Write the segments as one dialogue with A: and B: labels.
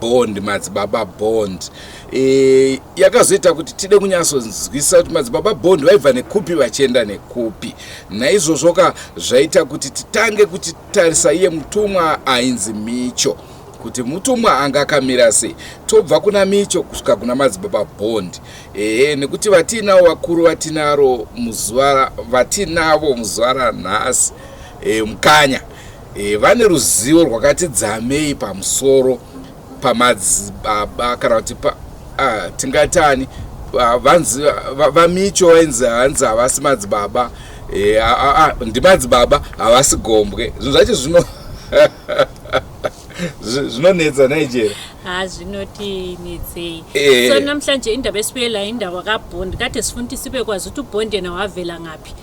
A: bond madzibaba bond e, yakazoita kuti tide kunyatsonzwisisa kuti madzibaba bond vaibva nekupi vachienda nekupi naizvozvo ka zvaita kuti titange kuti tarisa iye mutumwa ainzi micho kuti mutumwa anga akamira sei tobva kuna micho kusvika kuna madzibaba bond ehe nekuti vatiinawo vakuru vatinaro muzuva vatinavo muzuva ranhasi e, mukanya E, vane ruzivo rwakati dzamei pamusoro pamadzibaba kana kuti pa, uh, tingatani vanzi vamicho vainzi hanzi havasi madzibaba e, ndimadzibaba havasi gombwe zvinhu zvacho zvino zvinonetsa nigeria ha zvinoti
B: netsei eh. so namhlanje indaba esibuyela indaba kabond kade sifundisi bekwazi ukuthi ubondena wavela ngaphi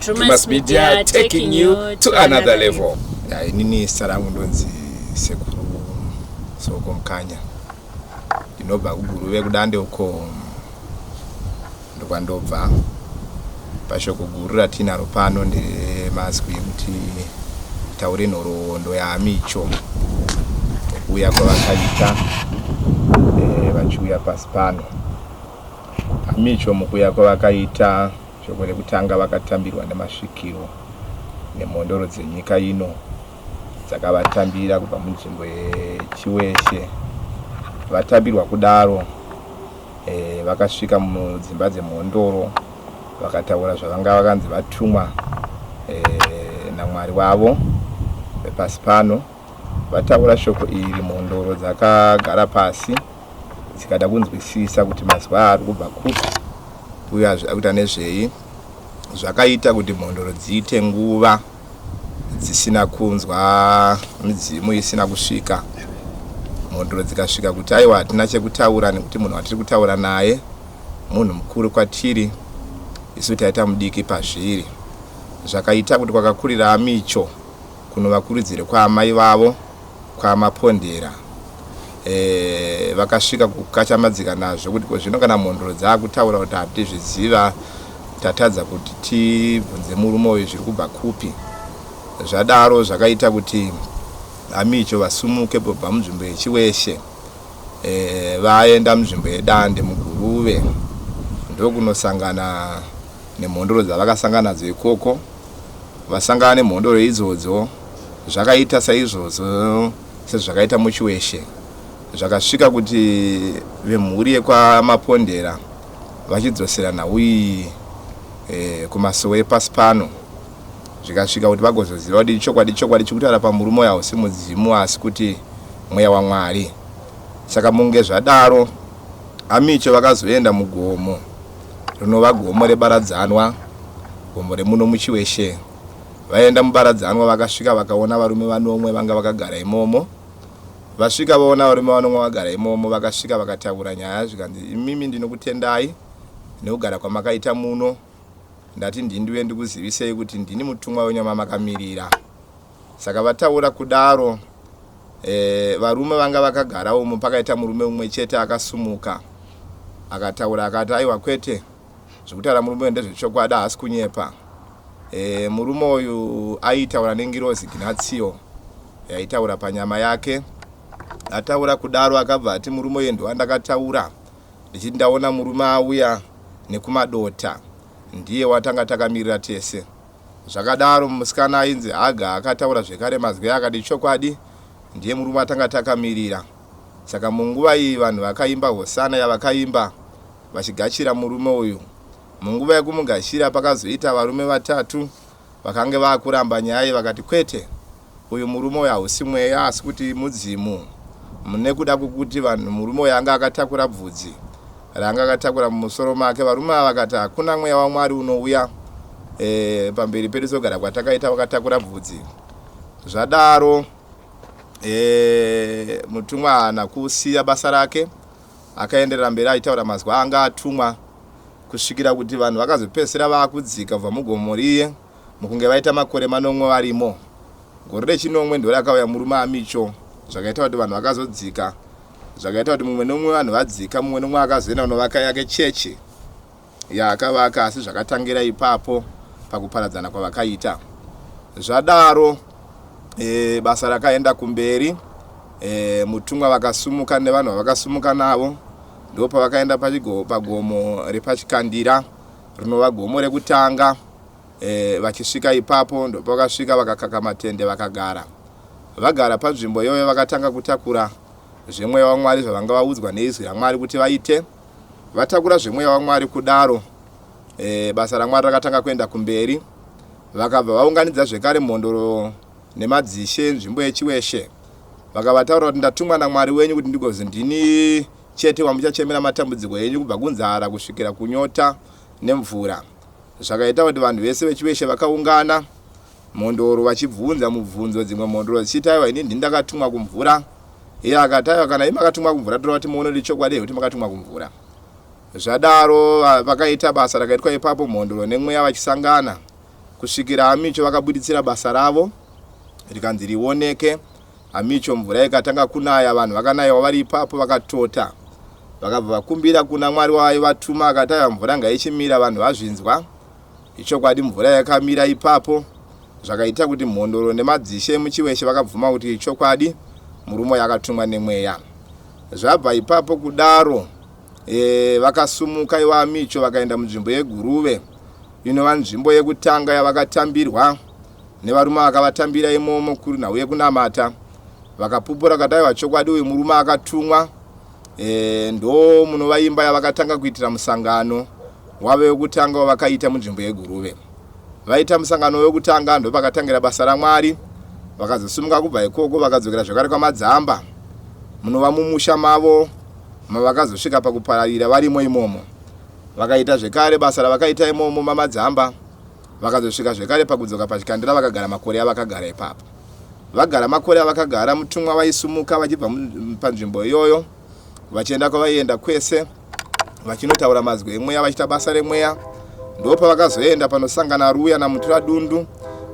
A: Drewmas Media taking you to another level. Ya, inini zita
C: rangu ndonzi Sekuru Soko Mkanya. Ndinobva kuGuruve kudande uko ndokwandobva. Pashoko guru ratinaro pano nderemazwi ekuti taure nhoroondo yaamicho kuuya kwavakaita eh, vachiuya pasi pano. Amicho mukuuya kwavakaita Svondo rekutanga vakatambirwa nemasvikiro nemhondoro dzenyika ino dzakavatambira kubva munzvimbo yeChiweshe. Vatambirwa kudaro e, vakasvika mudzimba dzemhondoro vakataura zvavanga vakanzi vatumwa e, namwari wavo vepasi pano vataura shoko iri mhondoro dzakagara pasi tikada kunzwisisa kuti mazuva aari kubva kupi uye akuita nezvei zvakaita kuti mhondoro dziite nguva dzisina kunzwa midzimu isina kusvika mhondoro dzikasvika kuti aiwa hatina chekutaura nekuti munhu watiri kutaura naye munhu mukuru kwatiri isu taita mudiki pazviri zvakaita kuti kwakakurira amicho kunovakurudzire kwaamai vavo kwaMapondera eh, vakasvika kukachamadzika nazvo kuti kozvino kana mhondoro dzaakutaura kuti hatizviziva tatadza kuti tibvunze murume uyu zviri kubva kupi zvadaro zvakaita kuti amicho vasumuke bva munzvimbo yechiweshe e, vaenda munzvimbo yedande muguruve ndokunosangana nemhondoro dzavakasangana nadzo ikoko vasangana nemhondoro idzodzo zvakaita saizvozvo sezvakaita muchiweshe zvakasvika kuti vemhuri yekwamapondera vachidzosera nhau iyi e, kumasowe epasi pano zvikasvika kuti vagozoziva kuti chokwadi chokwadi chikutaura pamurume uyo hausi mudzimu asi kuti mweya wamwari saka munge zvadaro amicho vakazoenda mugomo rinova gomo rebaradzanwa gomo remuno muchiweshe Vaenda mubaradzanwa vakasvika vakaona varume vanomwe vanga vakagara imomo. Vasvika vaona varume vanomwe vakagara imomo vakasvika vakataura nyaya zvikanzi imimi ndinokutendai nekugara kwamakaita muno ndati ndindiuye ndikuzivisei kuti ndini mutumwa wenyu wamamakamirira. Saka vataura kudaro e, varume vanga vakagara umo pakaita murume umwe chete akasumuka akataura akati aiwa kwete Zvekutaura murume uyu ndezvechokwadi haasi kunyepa. E, murume uyu aitaura nengirozi Gnatsio yaitaura panyama yake. Ataura kudaro akabva ati murume uyu ndiwandakataura ndichiti ndaona murume auya nekumadota ndiye watanga takamirira tese. Zvakadaro musikana ainzi Haga akataura zvekare mazwi akati chokwadi ndiye murume atanga takamirira. Saka munguva iyi vanhu vakaimba hosana yavakaimba vachigachira murume uyu. Munguva yekumugachira pakazoita varume vatatu vakange vakuramba nyaya iyi vakati kwete uyu murume uyu hausi mweya asi kuti mudzimu nekuda kwekuti vanhu murume uyu anga akatakura bvudzi raanga akatakura mumusoro make varume ava vakati hakuna mweya wamwari unouya e, pamberi pedu sogara kwatakaita vakatakura bvudzi zvadaro e, mutumwa haana kusiya basa rake Akaenderera mberi achitaura mazwi aanga atumwa kusvikira kuti vanhu vakazopedzisira vaakudzika kubva mugomo riye mukunge vaita makore manomwe varimo. Gore rechinomwe ndorakauya murume aMicho zvakaita kuti vanhu vakazodzika zvakaita kuti mumwe nomumwe vanhu vadzika mumwe nomumwe akazoenda kunovaka yake chechi. yaakavaka asi zvakatangira ipapo pakuparadzana kwavakaita zvadaro e, basa rakaenda kumberi e, mutumwa vakasumuka nevanhu vavakasumuka navo ndipo pavakaenda pagomo repachikandira rinova gomo rekutanga e, vachisvika ipapo ndopavakasvika vakakaka matende vakagara vagara panzvimbo iyoyo vakatanga kutakura zvemweya wamwari zvavanga vaudzwa neizwi ramwari kuti vaite Vatakura zvemweya waMwari kudaro, e, basa raMwari rakatanga kuenda kumberi. Vakabva vaunganidza zvekare mhondoro nemadzishe nzvimbo yechiweshe. Vakavataurira kuti ndatumwa naMwari wenyu kuti ndigozi ndini chete wamuchachemera matambudziko enyu kubva kunzara kusvikira kunyota nemvura. Zvakaita kuti vanhu vese veChiweshe vakaungana Mhondoro vachibvunza mubvunzo dzimwe Mhondoro dzichiti Taiwa ini ndini ndakatumwa kumvura Iye akati Taiwa kana imi makatumwa kumvura tora kuti muone kuti ichokwadi here kuti makatumwa kumvura Zvadaro vakaita basa rakaitwa ipapo Mhondoro nemweya vachisangana kusvikira Amicho vakabuditsira basa ravo rikanzi rioneke Amicho mvura ikatanga kunaya vanhu vakanaiwa vari ipapo vakatota vakabva vakumbira kuna mwari waaivatuma akataiwa mvura ngaichimira vanhu vazvinzwa ichokwadi mvura yakamira ipapo zvakaita kuti mhondoro nemadzishe emuchiweshe vakabvuma kuti ichokwadi murume uyo akatumwa nemweya zvabva ipapo kudaro e, vakasumuka ivo amicho vakaenda munzvimbo yeguruve inova nzvimbo yekutanga yavakatambirwa nevarume vakavatambira imomo kuri nhau yekunamata vakapupura kataiwa chokwadi uyu murume akatumwa e, ndo munova imba yavakatanga kuitira musangano wave wekutanga wavakaita munzvimbo yeguruve vaita musangano wekutanga ndopakatangira basa ramwari vakazosumuka kubva ikoko vakadzokera zvakare kwamadzamba munova mumusha mavo mavakazosvika pakupararira varimo imomo vakaita zvekare basa ravakaita imomo mamadzamba Vakazosvika zvekare pakudzoka pachikandira vakagara makore avakagara ipapo. Vagara makore avakagara mutumwa vaisumuka vachibva panzvimbo iyoyo vachienda kwavaienda kwese vachinotaura mazwi emweya vachiita basa remweya ndo pavakazoenda panosangana ruya namutura dundu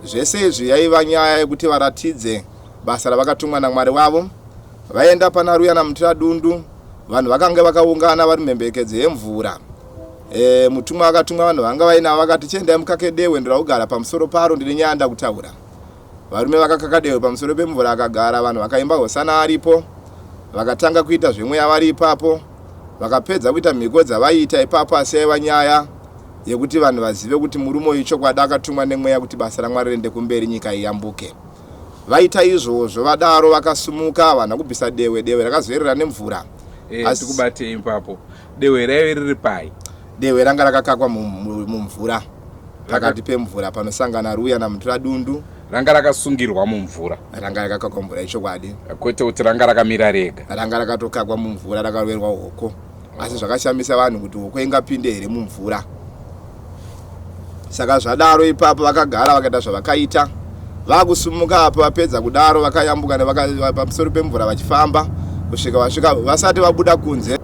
C: zvese izvi yaiva nyaya yekuti varatidze basa ravakatumwa namwari wavo vaenda pana ruya namutura dundu vanhu vakange vakaungana vari mhembekedzo yemvura E, mutumwa akatumwa vanhu vanga vainavo vakati chiendai mukake dewe ndiraugara pamusoro paro ndine nyaya nda kutaura varume vakakaka dewe pamusoro pemvura akagara vanhu vakaimba hosana aripo vakatanga kuita zvemweya vari ipapo vakapedza kuita mhiko dzavaiita ipapo asi yaiva nyaya yekuti vanhu vazive kuti murume uyu chokwadi akatumwa nemweya kuti basa ramwari riende kumberi nyika iyambuke vaita izvozvo vadaro vakasumuka havana kubvisa dewe dewe rakazoerera nemvura eh, asi kubatei
A: ipapo dehwe raive riri pai dehwe ranga rakakakwa
C: mumvura pakati pemvura panosangana ruya namutura dundu ranga rakasungirwa
A: mumvura ranga rakakakwa mvura
C: ichokwadi kwete kuti ranga
A: rakamira rega ranga rakatokakwa
C: mumvura rakaroverwa hoko asi zvakashamisa vanhu kuti hoko ingapinde here mumvura saka zvadaro ipapo vakagara vakaita zvavakaita vakusumuka apo vapedza kudaro vakayambuka pamusoro pemvura vachifamba kusvika vasvika vasati vabuda kunze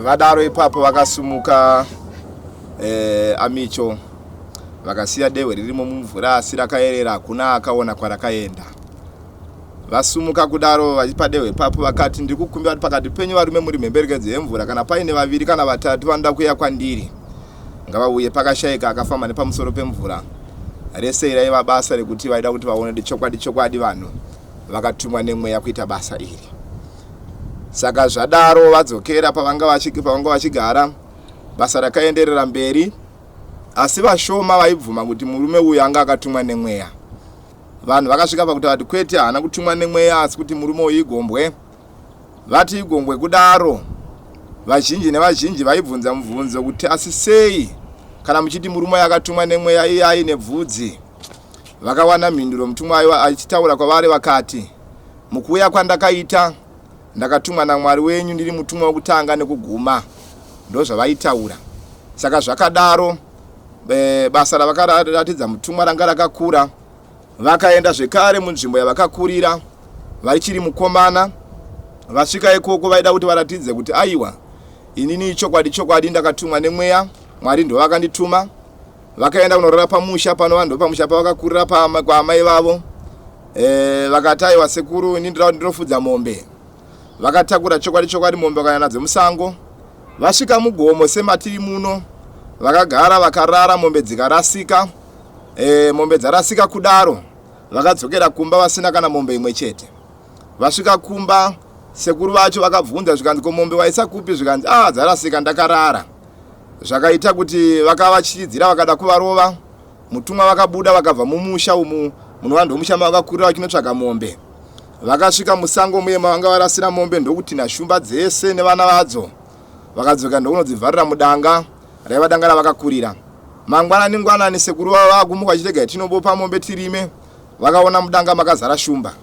C: vadaro ipapo vakasumuka eh, amicho vakasiya dehwe ririmo mumvura asi rakayerera hakuna akaona kwarakaenda vasumuka kudaro vachipa dehwe ipapo vakati ndiri kukumbira kuti pakati penyu varume muri mhemberekedzo yemvura kana paine vaviri kana vatatu vanoda kuya kwandiri ngavauye pakashaika akafamba nepamusoro pemvura rese iraiva basa rekuti vaida kuti vaone chokwadi chokwadi vanhu vakatumwa nemweya kuita basa iri saka zvadaro vadzokera pavanga vachigara basa rakaenderera mberi asi vashoma vaibvuma kuti murume uyu anga akatumwa nemweya vanhu vakasvika pakuti vati kwete haana kutumwa nemweya asi kuti murume uyu igombwe vati igombwe kudaro vazhinji nevazhinji vaibvunza mubvunzo kuti asi sei kana muchiti murume yakatumwa nemweya iye aine bvudzi Vakawana mhinduro mutumwa aiva achitaura kwavari vakati, Mukuuya kwandakaita, ndakatumwa naMwari wenyu ndiri mutumwa wokutanga nekuguma. Ndozvavaitaura. Saka zvakadaro, e, basa ravakaratidza mutumwa ranga rakakura. Vakaenda zvekare munzvimbo yavakakurira vachiri mukomana. Vasvika ikoko vaida kuti varatidze kuti aiwa, inini ichokwadi chokwadi ndakatumwa nemweya, Mwari ndovakandituma. vakaenda kunorara pamusha pano vanhu vepamusha pavakakurira kwaamai vavo e, vakati aiwa sekuru ini ndira kuti ndinofudza mombe vakatakura chokwadi chokwadi mombe vakaya nadzo musango vasvika mugomo sematiri muno vakagara vakarara mombe dzikarasika e, mombe dzarasika kudaro vakadzokera kumba vasina kana mombe imwe chete vasvika kumba sekuru vacho vakabvunza zvikanzi ko mombe waisakupi zvikanzi a ah, dzarasika ndakarara zvakaita kuti vakavatyiridzira vakada kuvarova mutumwa vakabuda vakabva mumusha umu muno vanhu vemusha mavakakurira vachinotsvaga mombe vakasvika musango muye mavanga varasira mombe ndokuti nashumba dzese nevana vadzo vakadzoka ndokunodzivharira mudanga raiva danga ravakakurira mangwanani ngwanani sekuru vavo vakumuka vachirega tinobopa mombe tirime vakaona mudanga makazara shumba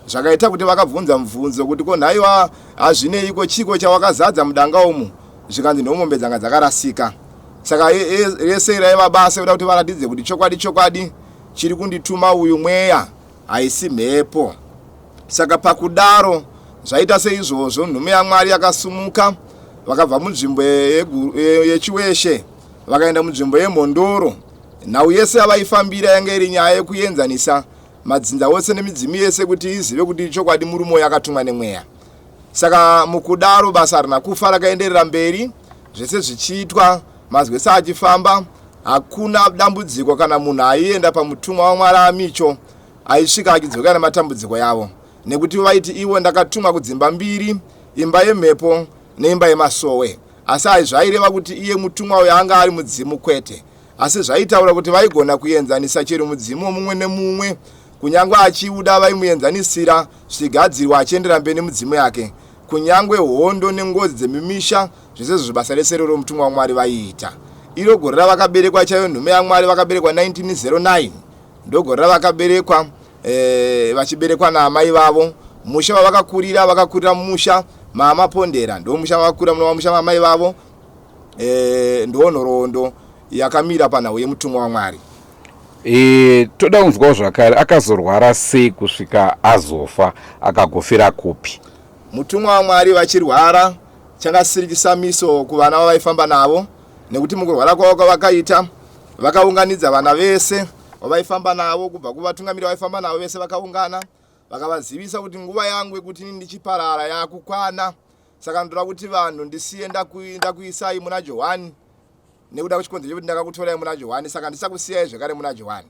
C: zvakaita kuti vakabvunza mubvunzo kuti ko nhaiwa hazvineiko chiko chawakazadza mudanga umu zvikanzi nhomombe dzanga dzakarasika saka rese raiva basa yoda kuti varatidze kuti chokwadi chokwadi chiri kundituma uyu mweya haisi mhepo saka pakudaro zvaita seizvozvo nhume yamwari yakasumuka vakabva munzvimbo yechiweshe vakaenda munzvimbo yemhondoro nhau yese yavaifambira yanga iri nyaya yekuenzanisa madzinza ose nemidzimu yese kuti izive kuti chokwadi murume uyo akatumwa nemweya saka mukudaro basa harina kufa rakaenderera mberi zvese zvichiitwa mazwi sa achifamba hakuna dambudziko kana munhu aienda pamutumwa wamwari amicho aisvika achidzoka nematambudziko yavo nekuti vaiti ivo ndakatumwa kudzimba mbiri imba yemhepo neimba yemasowe asi ai zvaireva kuti iye mutumwa uyo anga ari mudzimu kwete asi zvaitaura kuti vaigona kuenzanisa chero mudzimu womumwe nemumwe Kunyangwe achiuda vaimuenzanisira zvichigadzirwa achiendera mberi nemudzimu yake. Kunyangwe hondo nengozi dzemimisha zvese zvibasa rese iroro mutumwa waMwari vaiita. Iro gore ravakaberekwa chaiyo nhume yaMwari vakaberekwa 1909 ndogore ravakaberekwa eh, vachiberekwa naamai vavo. Musha wavakakurira vakakurira mumusha maamapondera ndomusha vavakura muno vamusha maamai vavo eh, ndonhoroondo yakamira panhau yemutumwa waMwari. E,
A: toda kunzwawo zvakare akazorwara sei kusvika azofa akagofira kupi? Mutumwa waMwari
C: vachirwara chakasiri chisamiso kuvana vavaifamba navo nekuti mukurwara kwavo kwavakaita vakaunganidza vana vese vavaifamba navo kubva kuvatungamiri vaifamba navo vese vakaungana vakavazivisa kuti nguva yangu yekuti ini ndichiparara yakukwana saka ndoda kuti vanhu ndisiye ndakuisai muna johani nekuda kwechikonzero chekuti ndakakutorai muna johani saka ndisakusiyai zvekare muna johani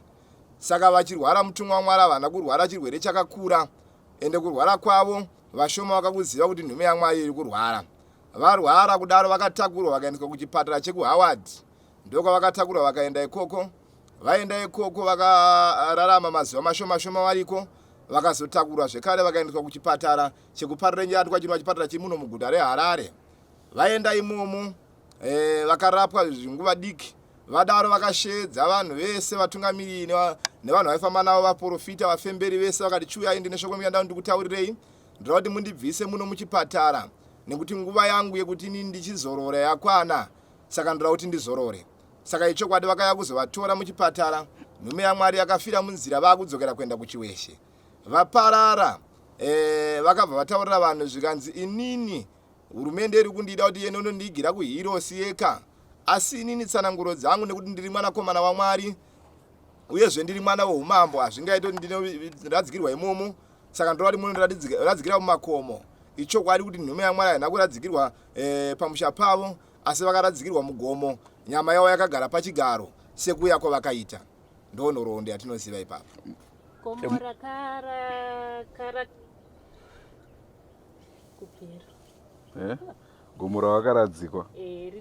C: saka vachirwara mutumwa wamwari havana kurwara chirwere chakakura ende kurwara kwavo vashoma vakakuziva kuti nhume yamwari iri kurwara varwara kudaro vakatakurwa vakaendeswa kuchipatara chekuhoward ndokwavakatakurwa vakaenda ikoko vaenda ikoko vakararama mazuva mashomashoma variko vakazotakurwa zvekare vakaendeswa kuchipatara chekuparira nyatwa chinova chipatara chemuno muguta reharare vaenda imomo eh, vakarapwa nguva diki vadaro vakasheedza vanhu vese vatungamiriri nevanhu vaifamba navo vaprofita vafemberi vese vakati chiuyai ndine shoko muyandao ndikutaurirei ndoda kuti mundibvise muno muchipatara nekuti nguva yangu yekuti ini ndichizorora yakwana saka ndoda kuti ndizorore saka ichokwadi vakaya kuzovatora muchipatara nhume yamwari yakafira munzira vakudzokera kuenda kuchiweshe vaparara e, vakabva vataurira vanhu zvikanzi inini Hurumende iri kundida kuti iende unondiigira kuHirosi yeka, asi inini tsananguro dzangu nekuti ndiri mwanakomana waMwari uyezve ndiri mwana weumambo hazvingaite kuti ndinoradzikirwa imomo saka ndorati munoradzikira mumakomo ichokwadi kuti nhume yamwari haina kuradzikirwa e, pamusha pavo asi vakaradzikirwa mugomo nyama yavo yakagara pachigaro sekuya kwavakaita ndo nhoroondo yatinoziva ipapo
B: eh? gomo
A: ravakaradzikwa eh,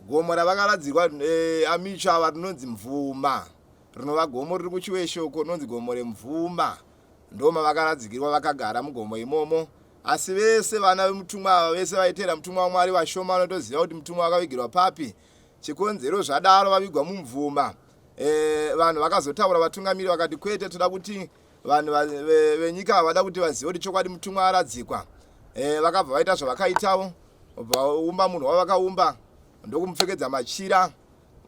B: gomo ravakaradzikwa
C: eh, amicho ava rinonzi mvuma rinova gomo riri kuchiweshoko rinonzi gomo remvuma ndoma vakaradzikirwa vakagara mugomo imomo asi vese vana vemutumwa ava vese vaiteera mutumwa wamwari vashoma vanotoziva kuti mutumwa wakavigirwa papi chikonzero zvadaro vavigwa mumvuma e, vanhu vakazotaura vatungamiri vakati kwete toda kuti vanhu venyika havada kuti vazive kuti chokwadi mutumwa aradzikwa eh, vakabva vaita zvavakaitawo vaumba munhu wavakaumba ndokumupfekedza machira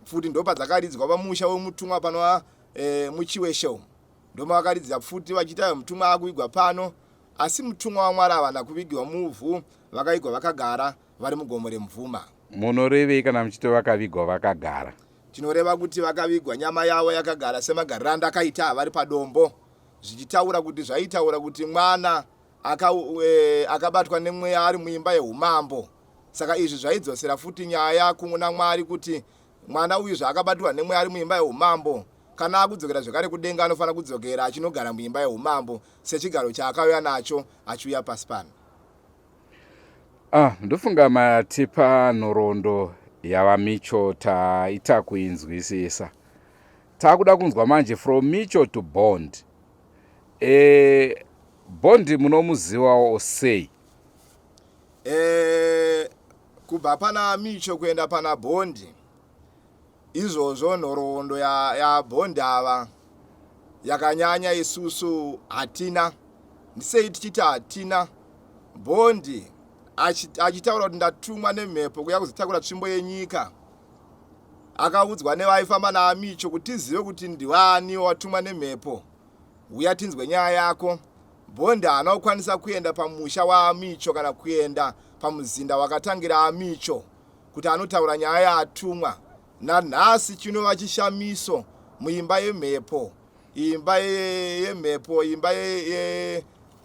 C: pfuti ndopa dzakaridzwa pamusha wemutumwa panova eh, muchiwesho ndoma vakaridzira pfuti vachiita mutumwa akuvigwa pano asi mutumwa wamwari havana kuvigirwa muvhu vakaigwa vakagara vari mugomo remvuma munorevei kana
A: muchiti vakavigwa vakagara tinoreva kuti
C: vakavigwa nyama yavo yakagara semagariranda akaita vari padombo zvichitaura kuti zvaitaura kuti mwana aka, e, akabatwa nemweya ari muimba yeumambo saka izvi zvaidzosera futi nyaya kuna mwari kuti mwana uyu zvaakabatirwa nemweya ari muimba yeumambo kana akudzokera zvekare kudenga anofanira kudzokera achinogara muimba yeumambo sechigaro chaakauya nacho achiuya pasi pano Ah,
A: ndofunga matipa nhoroondo yava micho taita kuinzwisisa takuda kunzwa manje from micho to bond e, bond munomuzivawo sei e,
C: kubva pana micho kuenda pana bondi Izvozvo nhoroondo ya ya Bond ava yakanyanya isusu hatina ndisei tichiti hatina Bond achitaura kuti ndatumwa nemhepo kuya kuzotakura tsvimbo yenyika akaudzwa nevaifamba naamicho kuti tizive kuti ndivaani watumwa nemhepo huya tinzwe nyaya yako bhondi haana kukwanisa kuenda pamusha waamicho kana kuenda pamuzinda wakatangira amicho kuti anotaura nyaya yaatumwa nanhasi chinova chishamiso muimba yemhepo imba yemhepo imba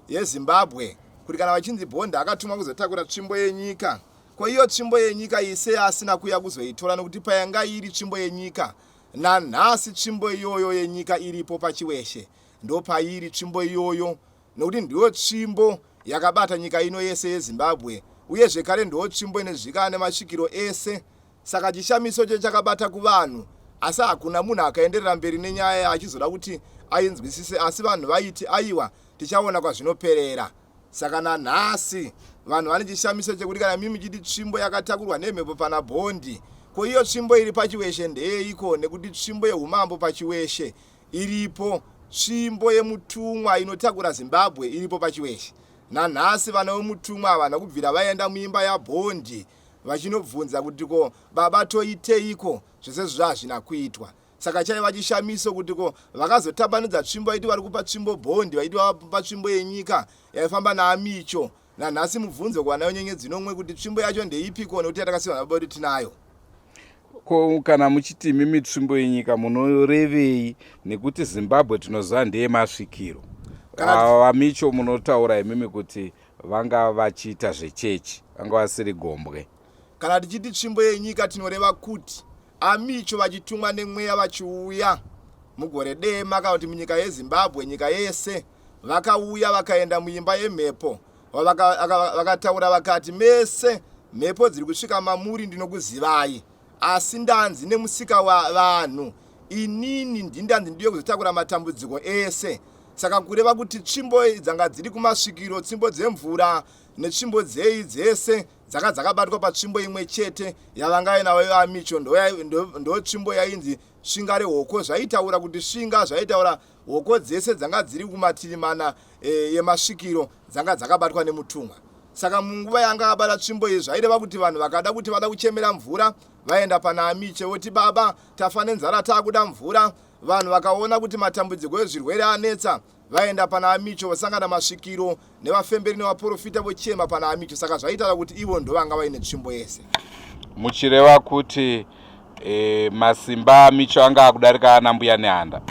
C: yezimbabwe kuti kana vachinzi bhondi akatumwa kuzotakura tsvimbo yenyika ko iyo tsvimbo yenyika ise asina kuya kuzoitora nokuti payanga iri tsvimbo yenyika nanhasi tsvimbo iyoyo yenyika iripo pachiweshe ndopairi tsvimbo iyoyo nokuti ndiyo tsvimbo yakabata nyika ino yese yeZimbabwe uye zvekare ndiyo tsvimbo inezvikana nemasvikiro ese saka chishamiso ichocho chakabata kuvanhu asi hakuna munhu akaenderera mberi nenyaya achizoda kuti ainzwisise asi vanhu vaiti aiwa tichaona kwazvinoperera saka nanhasi vanhu vane chishamiso chekuti kana mimi chiti tsvimbo yakatakurwa nemhepo pana bhondi ko iyo tsvimbo iri pachiweshe ndeyeiko nekuti tsvimbo yeumambo pachiweshe Iripo tsvimbo yemutumwa inotakura Zimbabwe iripo paChiweshe. Nanhasi vana vemutumwa havana kubvira vaenda muimba yaBondi vachinobvunza kuti ko baba toiteiko zvese izvozvo hazvina kuitwa. Saka chaiva chishamiso kuti ko vakazotambanudza tsvimbo vaiti vari kupa tsvimbo Bondi vaiti vava kupa tsvimbo yenyika yaifamba naAmicho nanhasi mubvunzo kuvanayo nyenyedzi nomwe kuti tsvimbo yacho ndeipiko nokuti yatakasiwa nababa kuti tinayo ko
A: kana muchiti imi mitsvimbo yenyika munorevei nekuti zimbabwe tinoziva ndeye masvikiro ava vamicho munotaura imimi kuti vanga vachiita zvechechi vanga vasiri gombwe kana tichiti
C: tsvimbo yenyika tinoreva kuti amicho vachitumwa nemweya vachiuya mugore dema kana kuti munyika yezimbabwe nyika yese Vakauya vakaenda muimba yemhepo vakataura vakati, Mese mhepo dziri kusvika mamuri ndinokuzivai, asi ndanzi nemusika wavanhu inini ndindanzi ndiyo kuzotakura matambudziko ese saka kureva kuti tsvimbo dzanga dziri kumasvikiro tsvimbo dzemvura netsvimbo dzei dzese dzanga dzakabatwa patsvimbo imwe chete yavanga inavo ivamicho ndotsvimbo yainzi svinga rehoko zvaitaura kuti svinga zvaitaura Hoko dzese dzanga dziri kumativi mana e, emasvikiro dzanga dzakabatwa nemutumwa. Saka munguva yanga abata tsvimbo iyi zvaireva kuti vanhu vakada kuti vada kuchemera mvura vaenda pana Amiche voti baba tafa nenzara taakuda mvura. Vanhu vakaona kuti matambudziko ezvirwere anetsa vaenda pana Amiche vosangana masvikiro nevafemberi nevaporofita vochema pana amicho saka zvaitaura kuti ivo ndovanga vaine tsvimbo yese muchireva
A: kuti e, masimba amicho anga akudarika ana mbuya nehanda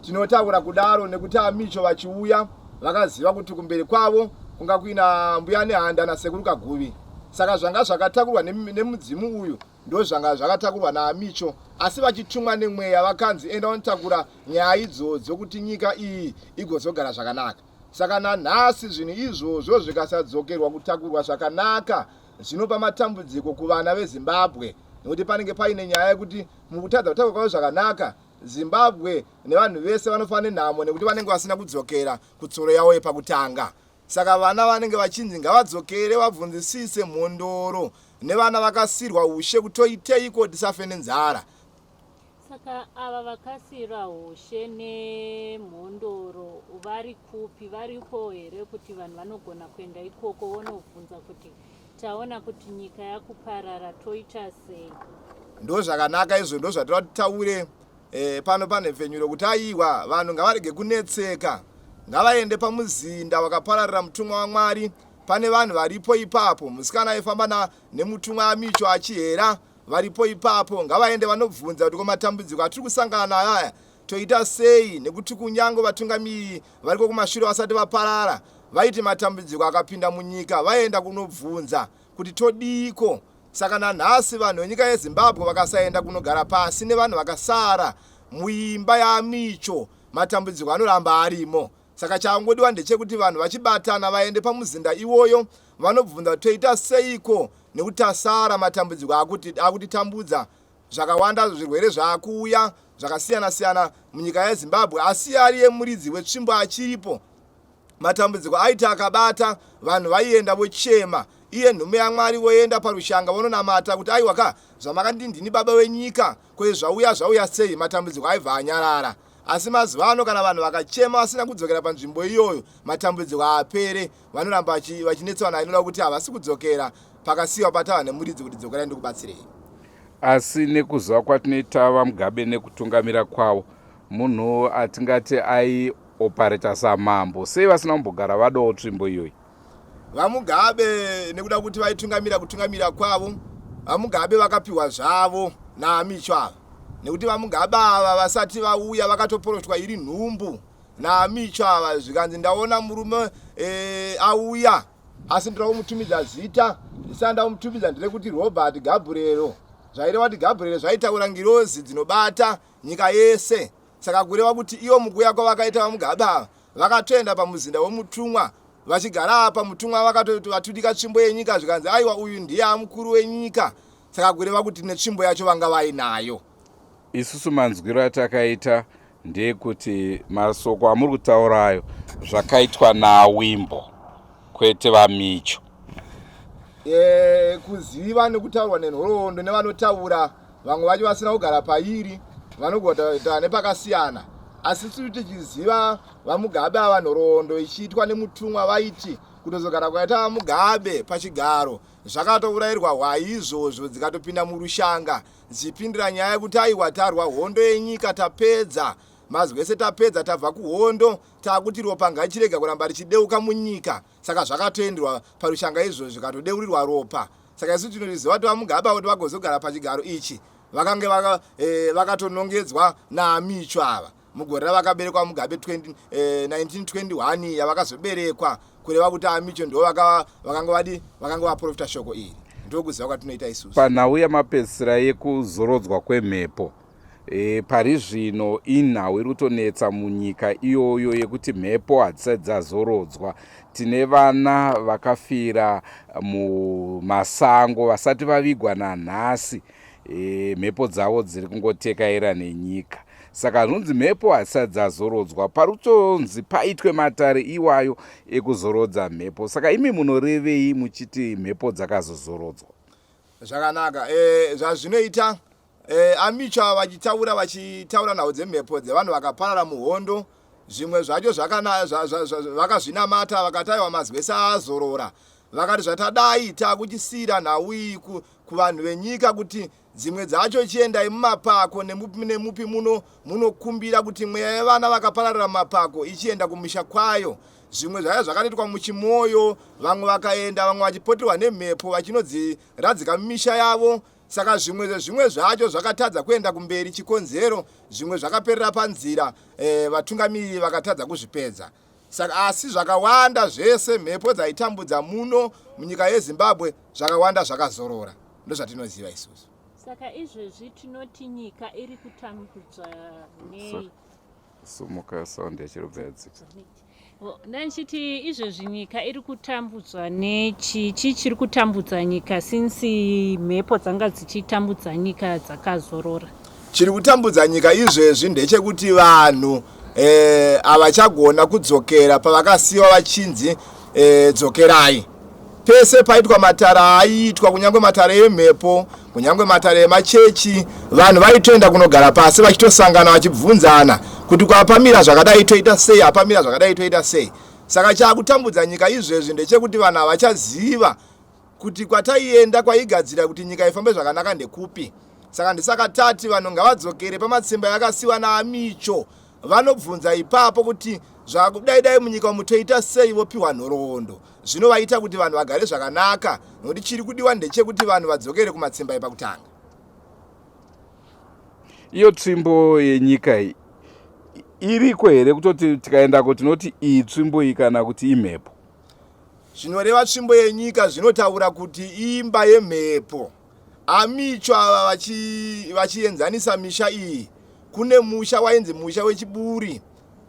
C: tinotaura kudaro nekuti amicho vachiuya vakaziva kuti kumberi kwavo kunga kuina mbuya nehanda nasekuru kaguvi saka zvanga zvakatakurwa nemudzimu uyu Ndozvanga zvakatakurwa naAmicho asi vachitumwa nemweya vakanzi enda unotakura nyaya idzodzo kuti nyika iyi igozogara zvakanaka. Saka nanhasi zvinhu izvozvo zvikasadzokerwa kutakurwa zvakanaka zvinopa matambudziko kuvana veZimbabwe nekuti panenge paine nyaya yekuti mukutadza kutakurwa kwavo zvakanaka Zimbabwe nevanhu vese vanofa nenhamo nekuti vanenge vasina kudzokera kutsoro yavo yepakutanga. Saka vana vanenge vachinzi ngavadzokere vabvunzisise mhondoro nevana vakasirwa ushe kutoiteiko tisafe nenzara. Saka
B: ava vakasira ushe nemhondoro vari kupi variko here kuti vanhu vanogona kuenda ikoko vonobvunza kuti taona kuti nyika yakuparara toita sei. Ndozvakanaka
C: izvo ndozvatira kuti taure E, pano panhepfenyuro kuti aiwa vanhu ngavarege kunetseka ngavaende pamuzinda wakapararira mutumwa wamwari pane vanhu varipo ipapo musikana aifamba na nemutumwa amicho achihera varipo ipapo ngavaende vanobvunza kuti komatambudziko atiri kusangana nayo aya toita sei nekuti kunyange vatungamiri variko kumashure vasati vaparara vaiti matambudziko akapinda munyika vaenda kunobvunza kuti todiiko saka nanhasi vanhu venyika yezimbabwe vakasaenda kunogara pasi nevanhu vakasara muimba yamicho matambudziko anoramba arimo saka changodiwa ndechekuti vanhu vachibatana vaende pamuzinda iwoyo vanobvunza kuti toita seiko nekuti tasara matambudziko akutitambudza zvakawanda zvirwere zvaakuuya zvakasiyana siyana munyika yezimbabwe asi ari yemuridzi wetsvimbo achiripo Matambudziko aiti akabata, vanhu vaienda vochema, iye nhume yaMwari voenda parushanga vononamata kuti aiwa ka, zvamakanditi ndini baba wenyika, ko izvi zvauya zvauya sei, matambudziko aibva anyarara. Asi mazuva ano kana vanhu vakachema vasina kudzokera panzvimbo iyoyo, matambudziko haapere, vanoramba vachi, vachinetswa nayo inoda kuti havasi kudzokera pakasiyiwa patava nemuridzi kuti dzokerai ndikubatsirei. Asi
A: nekuziva kwatinoita VaMugabe nekutungamira kwavo, munhu atingati ai opareta samambo sei vasina kumbogara vadawo tsvimbo iyoyi vamugabe
C: nekuda kuti vaitungamira kutungamira kwavo vamugabe vakapiwa zvavo naamicho ava nekuti vamugabe ava vasati vauya vakatoporoshwa iri nhumbu naamicho ava zvikanzi ndaona murume e, auya asi ndira kumutumidza zita ndisana ndamutumidza ndire kuti robert gabriero zvaireva kuti gabriero zvaitaura ngirozi dzinobata nyika yese saka kureva kuti ivo mukuuya kwavakaita vamugabe ava vakatoenda pamuzinda wemutumwa vachigara apa mutumwa vakatoti vatudika tsvimbo yenyika zvikanzi aiwa uyu ndiye amukuru wenyika saka kureva kuti netsvimbo yacho vanga vainayo isusu
A: manzwiro atakaita ndeyekuti masoko amuri kutaura ayo zvakaitwa nawimbo kwete vamicho e,
C: kuziva nekutaurwa nenhoroondo nevanotaura vamwe vacho vasina kugara pairi vanogota nepakasiyana asi tiri tichiziva vamugabe ava nhoroondo ichiitwa nemutumwa vaiti kutozogara kwaita vamugabe pachigaro zvakatourairwa hwai izvozvo dzikatopinda murushanga dzichipindira nyaya yekuti aiwa tarwa hondo yenyika tapedza mazwese tapedza tabva kuhondo taakuti ropa ngachirega kuramba richideuka munyika saka zvakatoenderwa parushanga izvo zvikatodeurirwa ropa saka isu tinoriziva kuti vamugaba kuti vagozogara pachigaro ichi vakange eh, vakatonongedzwa vaka naamicho ava mugore ravakaberekwa mugabe 1921 eh, yavakazoberekwa kureva kuti amicho ndo vakanga vadi vakanga vaprofita shoko iri ndokuziva kwatinoita isusu panhau yamapedzisira
A: yekuzorodzwa kwemhepo E, pari zvino inhau iri kutonetsa munyika iyoyo yekuti mhepo hadzisati dzazorodzwa tine vana vakafira mumasango vasati vavigwa nanhasi e, mhepo dzavo dziri kungotekaira nenyika saka zvinonzi mhepo hadzisati dzazorodzwa pari kutonzi paitwe matare iwayo ekuzorodza mhepo saka imi munorevei muchiti mhepo dzakazozorodzwa zvakanaka
C: e, zvazvinoita E, amicha vachitaura vachitaura nhau dzemhepo dzevanhu vakaparara muhondo zvimwe zvacho vakazvinamata vakataiwa mazwese aazorora vakati zvatadai takuchisiira nhau iyi kuvanhu venyika kuti dzimwe dzacho chiendai mumapako nemupi muno munokumbira kuti mweya yevana vakapararira mumapako ichienda kumisha kwayo zvimwe zvaya zvakanoitwa muchimoyo vamwe vakaenda vamwe vachipoterwa nemhepo vachinodziradzika mumisha yavo Saka zvimwe zvezvimwe zvacho zvakatadza kuenda kumberi, chikonzero zvimwe zvakaperera panzira, e, vatungamiriri vakatadza kuzvipedza. Saka asi zvakawanda zvese mhepo dzaitambudza muno munyika yeZimbabwe zvakawanda zvakazorora, ndozvatinoziva isusu. Saka izvezvi
B: tinoti nyika iri kutambudzwa nei? sumuka
A: sound yachirobva yadzika
B: ndandichiti izvezvi nyika iri kutambudzwa nechi chii chiri kutambudza nyika since mhepo dzanga dzichitambudza nyika dzakazorora chiri kutambudza
C: nyika izvezvi ndechekuti vanhu eh, havachagona kudzokera pavakasiyiwa vachinzi eh, dzokerai Pese paitwa matare aiitwa, kunyange matare emhepo, kunyange matare emachechi, vanhu vaitoenda kunogara pasi vachitosangana vachibvunzana kuti kwapamira zvakadai toita sei, apamira zvakadai toita sei. Saka chakutambudza nyika izvezvi ndechekuti vanhu havachaziva kuti kwataienda kwaigadzira kuti nyika ifambe zvakanaka ndekupi. Saka ndisaka tati vanhu ngavadzokere pamatsimba yakasiwa naAmicho Vanobvunza ipapo kuti zvakudai dai munyika umu toita sei vopiwa nhoroondo zvinovaita kuti vanhu vagare zvakanaka nokuti chiri kudiwa ndechekuti vanhu vadzokere kumatsimba epakutanga.
A: Iyo tsvimbo yenyika iyi iriko here kutoti tikaendako tinoti iyi tsvimbo iyi kana kuti imhepo? Zvinoreva
C: tsvimbo yenyika zvinotaura kuti imba yemhepo. AMicho ava vachi, vachienzanisa misha iyi kune musha wainzi musha wechiburi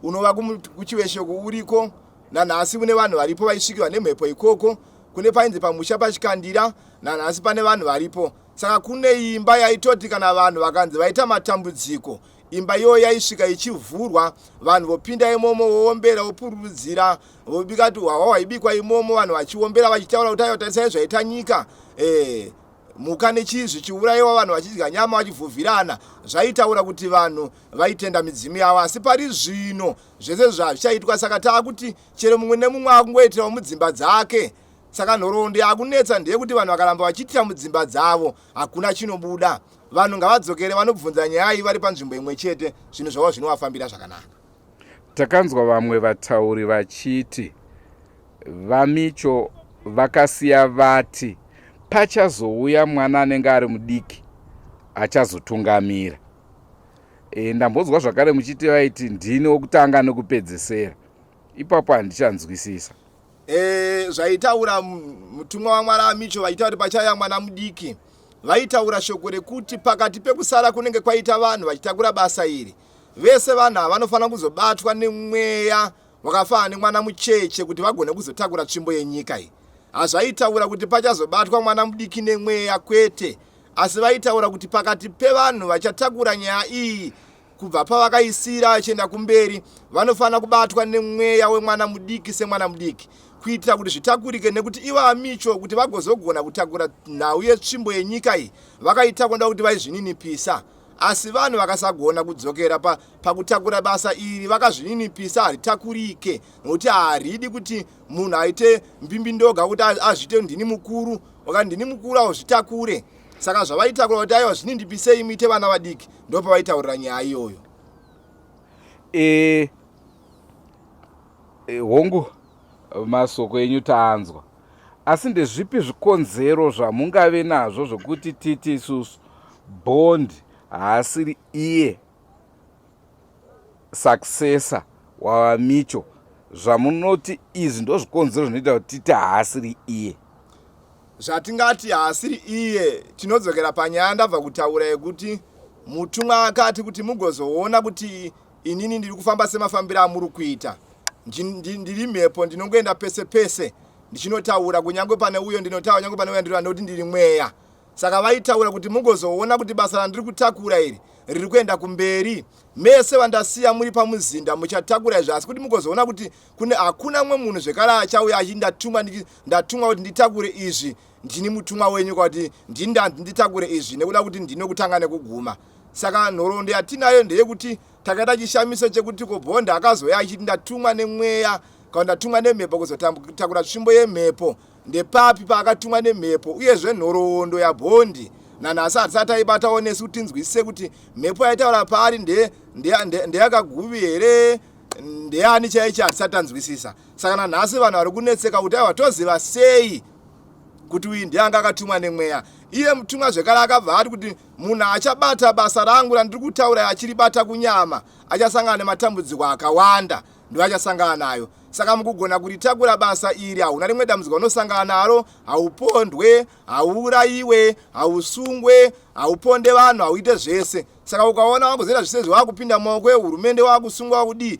C: unova kuchiveshoko uriko nanhasi une vanhu varipo vaisvikirwa nemhepo ikoko kune painzi pamusha pachikandira nanhasi pane vanhu varipo saka kune imba yaitoti kana vanhu vakanzi vaita matambudziko imba iyoyo yaisvika ichivhurwa vanhu vopinda imomo woombera wopururudzira vobika tuhwahwa hwaibikwa imomo vanhu vachiombera vachitaura kuti aiwa tarisai zvaita nyika eh, mhuka nechii zvichiurayiwa vanhu vachidya nyama vachivhuvhirana zvaitaura kuti vanhu vaitenda midzimu yavo asi pari zvino zvese zvazvichaitwa saka taa kuti chero mumwe nemumwe akungoitirawo mudzimba dzake saka nhoroondo yakunetsa ndeyekuti vanhu vakaramba vachiitira mudzimba dzavo hakuna chinobuda vanhu ngavadzokere vanobvunza nyaya iyi vari panzvimbo imwe chete zvinhu zvavo zvinovafambira zvakanaka Takanzwa
A: vamwe vatauri vachiti VaMicho vakasiya vati pachazouya mwana anenge ari mudiki achazotungamira. E, ndambonzwa zvakare muchiti vaiti ndini wokutanga nekupedzesera. Ipapo handichanzwisisa. E,
C: zvaitaura mutumwa waMwari aMicho vaita kuti pachauya mwana mudiki vaitaura shoko rekuti pakati pekusara kunenge kwaita vanhu vachitakura basa iri Vese vanhu ava vanofanira kuzobatwa nemweya wakafanana nemwana mucheche kuti vagone kuzotakura tsvimbo yenyika iyi. Hazvaitaura kuti pachazobatwa mwana mudiki nemweya kwete, asi vaitaura kuti pakati pevanhu vachatakura nyaya iyi kubva pavakaisira vachienda kumberi vanofanira kubatwa nemweya wemwana mudiki semwana mudiki kuitira kuti zvitakurike nekuti ivo amicho kuti vagozogona kutakura nhau yetsvimbo yenyika iyi vakaita kuda kuti vaizvininipisa Asi vanhu vakasagona kudzokera pa, pakutakura basa iri vakazvininipisa haritakurike nokuti haridi kuti munhu aite mbimbindoga kuti azviite ndini mukuru oka ndini mukuru auzvitakure saka zvavaitakura kuti aiwa zvinindipisei muite vana vadiki ndo pavaitaurira nyaya iyoyo e, e,
A: hongu masoko enyu taanzwa Asi ndezvipi zvikonzero zvamungave nazvo zvokuti titi isusu Bond haasiri iye successor waVaMicho? Zvamunoti izvi ndozvikonzero zvinoita kuti titi haasiri iye?
C: Zvatingati haasiri iye tinodzokera panyaya yandabva kutaura yekuti mutumwa akati kuti mugozoona kuti Inini ndiri kufamba semafambiro amuri kuita. Ndiri mhepo ndinongoenda pese pese ndichinotaura kunyange pane uyo ndinotaura nyange pane uyo ndinotaura nekuti ndiri mweya. Saka vaitaura kuti mugozoona kuti basa randiri kutakura iri riri kuenda kumberi. Mese vandasiya muri pamuzinda muchatakura izvi asi kuti mugozoona kuti kune hakuna mumwe munhu zvekare achauya achiti ndatumwa ndatumwa kuti nditakure izvi ndini mutumwa wenyu kwakuti ndini ndanzi nditakure izvi nekuda kuti ndinokutanga nekuguma. Saka nhoroondo yatinayo ndeyekuti takaita chishamiso chekuti ko Bond akazouya achiti ndatumwa nemweya kana ndatumwa nemhepo kuzotakura tsvimbo yemhepo ndepapi paakatumwa nemhepo uyezve nhoroondo yaBondi nanhasi hatisati taibatawo nesu kuti tinzwisise kuti mhepo yaitaura paari ndeyakaguvi here ndeyani chaicho hatisati tanzwisisa saka nanhasi vanhu vari kunetseka kuti aiwa toziva sei kuti uyu ndiye anga akatumwa nemweya iye mutumwa zvekare akabva ati kuti munhu achabata basa rangu randiri kutaura achiribata kunyama achasangana nematambudziko akawanda ndiwo achasangana nayo saka mukugona kuritakura basa iri hauna rimwe dambudziko unosangana naro haupondwe hauurayiwe hausungwe hauponde vanhu hauite zvese saka ukaona wakuzoita zvese zvewakupinda maoko ehurumende wakusungwa wakudii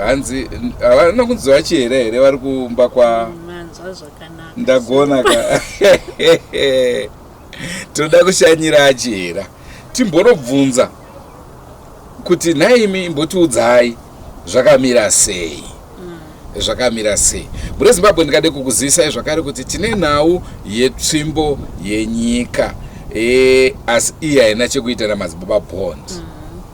A: hanzi havana kunzi vachiera here vari kumba kwa ndagona ka tinoda kushanyira achiera timbonobvunza kuti nhaimi imbotiudzai zvakamira sei mm. zvakamira sei mune zimbabwe ndikade kukuzivisai zvakare kuti tine nhau yetsvimbo yenyika e, asi iyi haina chekuita namadzibaba bond mm.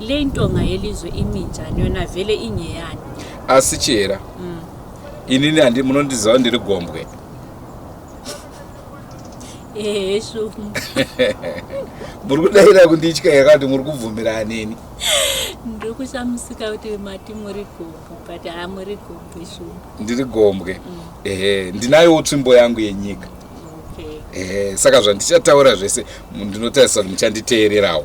B: Le intonga yelizwe iminjani yona vele inyeyani. Asi chihera.
A: Mm. Inini handi munondiziva ndiri gombwe.
B: Ehe shumu.
A: Muri kudaira kunditya here kuti muri kubvumira aneni? Ndiri
B: kushamisika kuti mati muri gombwe but haa muri gombwe shumu. Ndiri gombwe. Mm.
A: Ehe ndinayowo tsvimbo yangu yenyika. Okay. Ehe
B: saka zvandichataura
A: zvese ndinotarisira kuti muchanditeererawo.